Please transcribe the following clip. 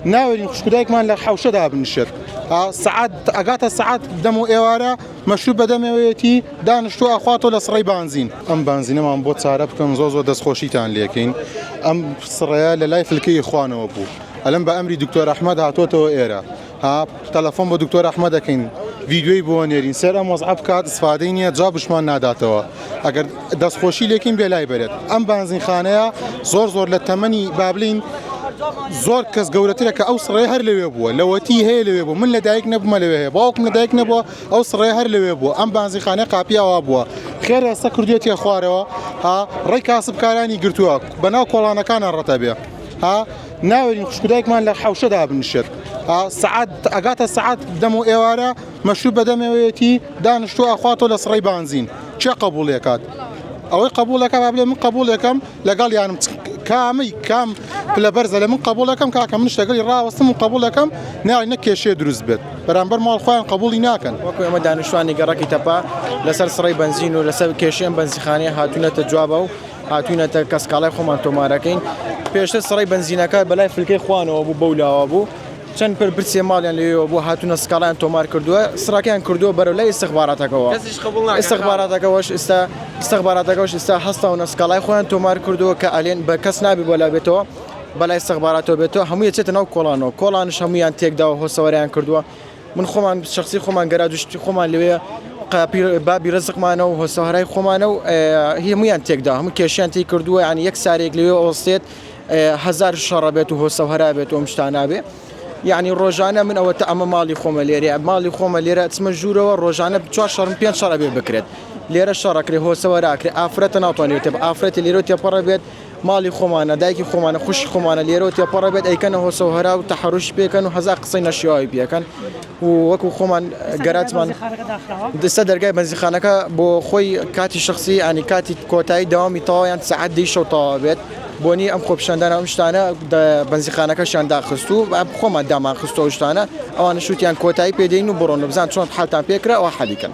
ناوێرین خوشکودایکمان لە حەوشە دابنیشێت سعات ئەگاتە سعات دەم و ئێوارە مەشروب بەدەمەوەیەتی دانیشتو ئەخواتەوە لە سڕی بانزین ئەم بانزینەمان بۆ چارە بکەن زۆ زۆر دەستخۆشیتان لەکەین ئەم سڕەیە لە لای فلکەی خوانەوە بوو ئەلم بە ئەمری دکتۆر ئەحمد هاتووەتەوە ئێرە ها تەلەفۆن بە دکتۆر ئەحمەد ئەکەین ڤیدیۆی بۆ ئەنێرین سەر ئەم وەزعە بکات استفادەی نییە جابشمان ناداتەوە ئەگەر دەستخۆشی لێکین بێ لای بەرێت ئەم بانزینخانەیە زۆر زۆر لە تەمەنی بابلین زۆر کەس گەورەترە کە ئەو سڕێ هەر لەوێ بووە لەوەتی هەیە لەوێ بوو من لە دایک نەبمە لەوێ هەیە باوکم لە دایک نەبووە ئەو سڕێ هەر لەوێ بووە ئەم بانزیخانە قاپیاوا بووە خێر ئێستا کردوێتە خوارەوە ها ڕێی کاسبکارانی گرتووە بەناو کۆڵانەکانە ڕەتەبێ ها ناوێرین خوشک و دایکمان لە حەوشە دابنیشێت. سەعات ئەگاتە سەعات دەم و ئێوارە مەشروب بەدەمێوەیەتی دانیشتووە ئەخواتەوە لە سڕەی بانزین. کێ قەبووڵی ئەکات؟ ئەوەی قەبووڵ ئەکا با بلێ من قەبووڵ ئەکەم لەگەڵیانم چ کامەی کام پلە بەرزە لە من قەبووڵ ئەکەم کاکە منیش لەگەڵی ڕاوەستم و قەبووڵ ئەکەم ناوی نەک کێشەیە دروست بێت بەرامبەر ماڵ خۆیان قەبووڵی ناکەن. وەکو ئێمە دانیشتووانی گەڕەکی تەپە لەسەر سڕەی بەنزین و لەسەر کێشەی ئەم بەنزیخانەیە هاتوونەتە جوابەوە، هاتوینەتە کە سکاڵای خۆمان تۆمارەکەین پێشتر سڕی بنزینەکە بەلای فلکەی خوانەوە بوو بەو لاوە بوو چەند پر پرسێ ماڵیان لێەوە بوو هاتوونە سکاڵیان تۆمار کردووە سڕەکەیان کردووە بەرە لای استخباراتەکەەوە استخباراتەکەەوەش ئستا استخباراتەکەش ئستا هەستا و نسکاڵای خۆیان تۆمار کردووە کە ئەلێن بە کەس نابی بۆ لا بێتەوە بەلای استخباراتەوە بێتەوە هەموو چێتە ناو کۆڵانەوە کۆڵانش هەمویان تێکدا و هۆسەوەریان کردووە من خۆمان شخصی خۆمان گەراج و شتی خۆمان لەوێ قاپی بابی ڕزقمانە و هۆسەهرای خۆمانە و هەمویان تێکدا هەموو کێشیان تی کردووە ینی یەک سارێک لەوێ ئۆستێت هزار شەڕە بێت و هۆسەهرا بێت و ئەمشتانابێ یعنی ڕۆژانە من ئەوە تا ئەمە ماڵی خۆمە لێرە ماڵی خۆمە لێرە چمە ژوورەوە ڕۆژانە چوار شەڕم پێ شەڕەبێ بکرێت لێرە شەڕەکرێ هۆسەوەراکرێ ئافرەتە ناوتوانێت ئافرەتی لێرە تێپەڕە بێت ماڵی خۆمانە دایکی خۆمانە خوشکی خۆمانە لێرەوە تێپەڕە بێت ئەیکەنە هۆسە و هەرا و تەحەروشی پێکەن و هەزار قسەی نەشیاوی پێکەن و وەکو خۆمان گەراتمان دەستە دەرگای بەنزیخانەکە بۆ خۆی کاتی شخصی ئەنی کاتی کۆتایی دەوامی تەواویان سەعات دەی شەو تەواو بێت بۆنی ئەم خۆپشاندانە ئەم شتانە بەنزیخانەکەشیان داخست و خۆمان دامان خستۆ شتانە ئەوانە شووتیان کۆتایی پێدەین و بڕۆن و بزان چۆن حالتان پێکرا ئەوە حەلیکەن.